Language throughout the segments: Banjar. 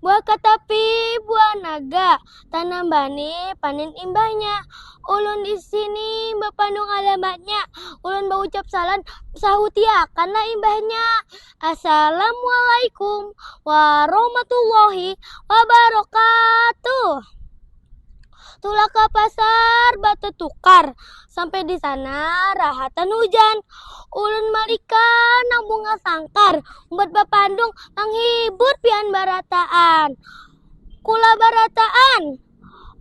Buah katapi, buah naga, tanam bani, panen imbahnya. Ulun di sini bapandung alamatnya, ulun baucap salam, sahutiakanlah imbahnya. Assalamualaikum warahmatullahi wabarakatuh. Tulak ke pasar tukar Sampai di sana rahatan hujan. Ulun malika nang bunga sangkar. Umbat bapandung nang hibur pian barataan. Kula barataan.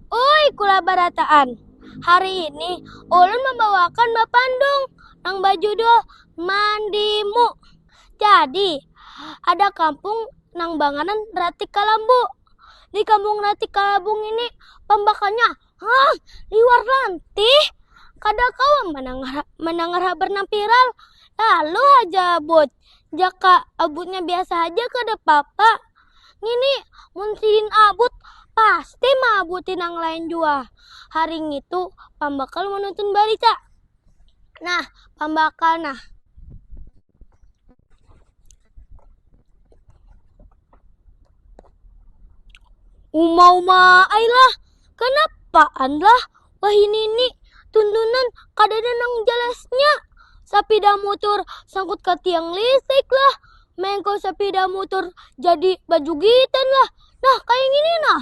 Ui kula barataan. Hari ini ulun membawakan bapandung nang bajudul Mandimu. Jadi ada kampung nang banganan Ratik Kalambu. Di kampung Rati Kalabung ini pambakannya hah liwar lantih. Kada kawa menangar menangar habar nang viral. Lalu haja abut, jaka abutnya biasa haja kada papa. Ngini mun sidin abut pasti maabuti nang lain jua. Hari ngitu pambakal menuntun barita. Nah pambakal nah. Uma uma ailah, kanapaan lah wahini ni tuntunan kadada nang jalasnya. Sapida mutur sangkut ka tiang listrik lah, mengko sapida mutur jadi bajugitan lah, nah kaya ngini nah.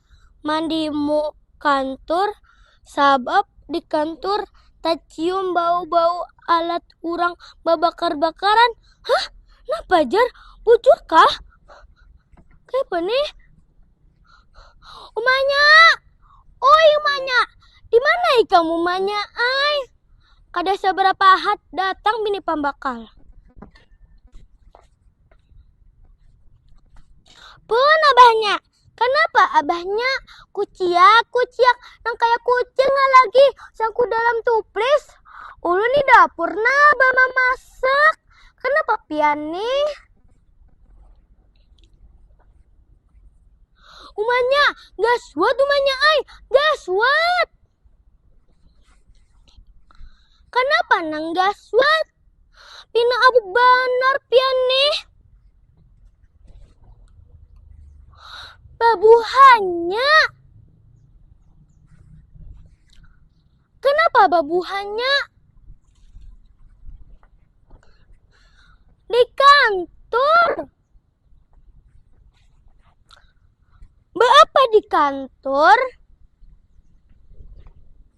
mandi mu kantur sabab di kantur tacium bau-bau alat urang babakar-bakaran. Hah? Napa jar? Bujur kah? Kayapa nih? Umanya! Oi umanya! Di mana ikam umanya ai? Kada seberapa hat datang bini pambakal. Pun abahnya, Kanapa abahnya kuciak kuciak nang kaya kucing lah lagi sangku dalam tuplis. Ulun ni dapur nah bamamasak kanapa pian nih. Umanya gaswat umanya ai gaswat. Kanapa nang gaswat. Pina abu banar pian nih. Babuhannya. Kenapa babuhannya? Di kantor. Beapa di kantor?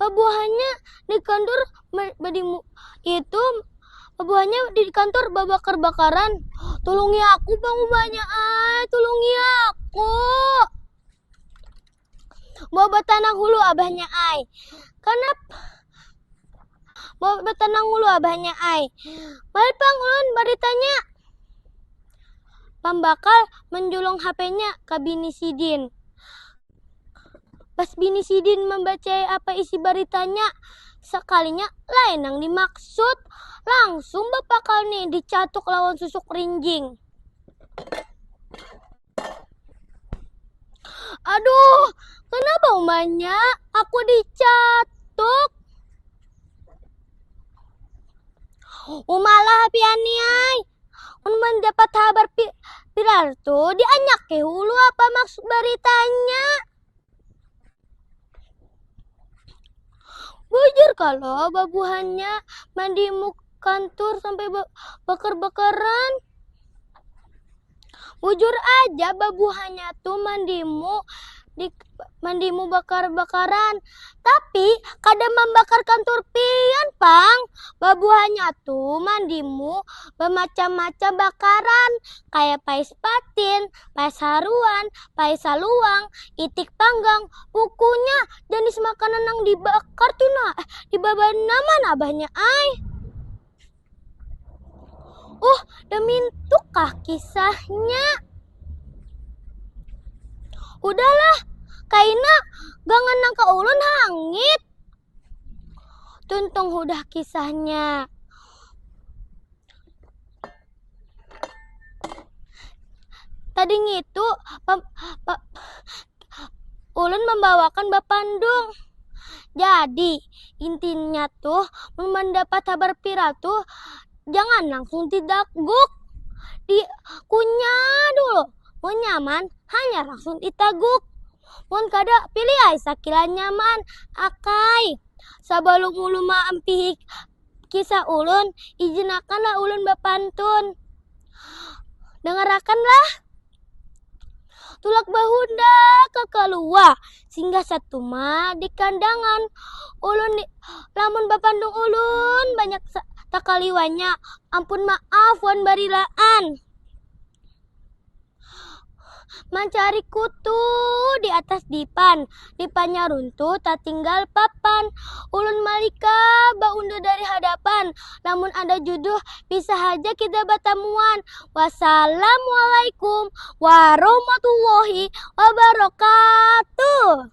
Pabuahannya di kantor badimu itu pabuahannya di kantor babakar-bakaran. Tulungi aku pangubahnya ai, tulungi aku. Mau batanang hulu abahnya ai. Kanapa? Mau batanang hulu abahnya ai. Mari pang ulun baritanya. Pambakal menjulung HP-nya ke bini sidin. Pas bini sidin mambacai apa isi baritanya, sakalinya lain nang dimaksud. Langsung bapakal nih dicatuk lawan susuk rinjing. Aduh, kenapa umanya aku dicatuk? Umalah pian ni ai, Mun mendapat habar pi pilar tu dianyaki hulu apa maksud beritanya. Bujur kalau babuhannya mandi muk kantur sampai bakar-bakaran. Bujur aja babuhannya tu mandimu mandimu bakar-bakaran tapi kada mambakarkan turpian pang babuhannya tu mandimu bamacam-macam bakaran kaya pais patin, pais haruan, pais saluang, itik panggang pukunya janis makanan nang dibakar tu nah dibabanar nang mana abahnya ai. Uh, damintukah kisahnya? Udahlah, kaina gangan nangka ulun hangit. Tuntung udah kisahnya. Tadi ngitu pa, pa, ulun membawakan bapandung. Jadi, Intinya tuh, mun mandapat habar viral tuh, jangan langsung didaguk. Dikunyah dulu. Mun nyaman, hanya langsung ditaguk. Mun kada, pilih ai sakira nyaman. Akai, sabalum ulun maampihik kisah ulun, ijinakanlah ulun bapantun. Dangarakanlah. Tulak bahunda ka kalua, singgah satuma di kandangan. Ulun di, lamun bapantun ulun banyak takaliwanya. Ampun maaf wan barilaan. Mancari kutu di atas dipan, dipannya runtuh tatinggal papan. Ulun malika baundur dari hadapan, lamun ada juduh bisa haja kita batamuan. Wassalamualaikum warahmatullahi wabarakatuh.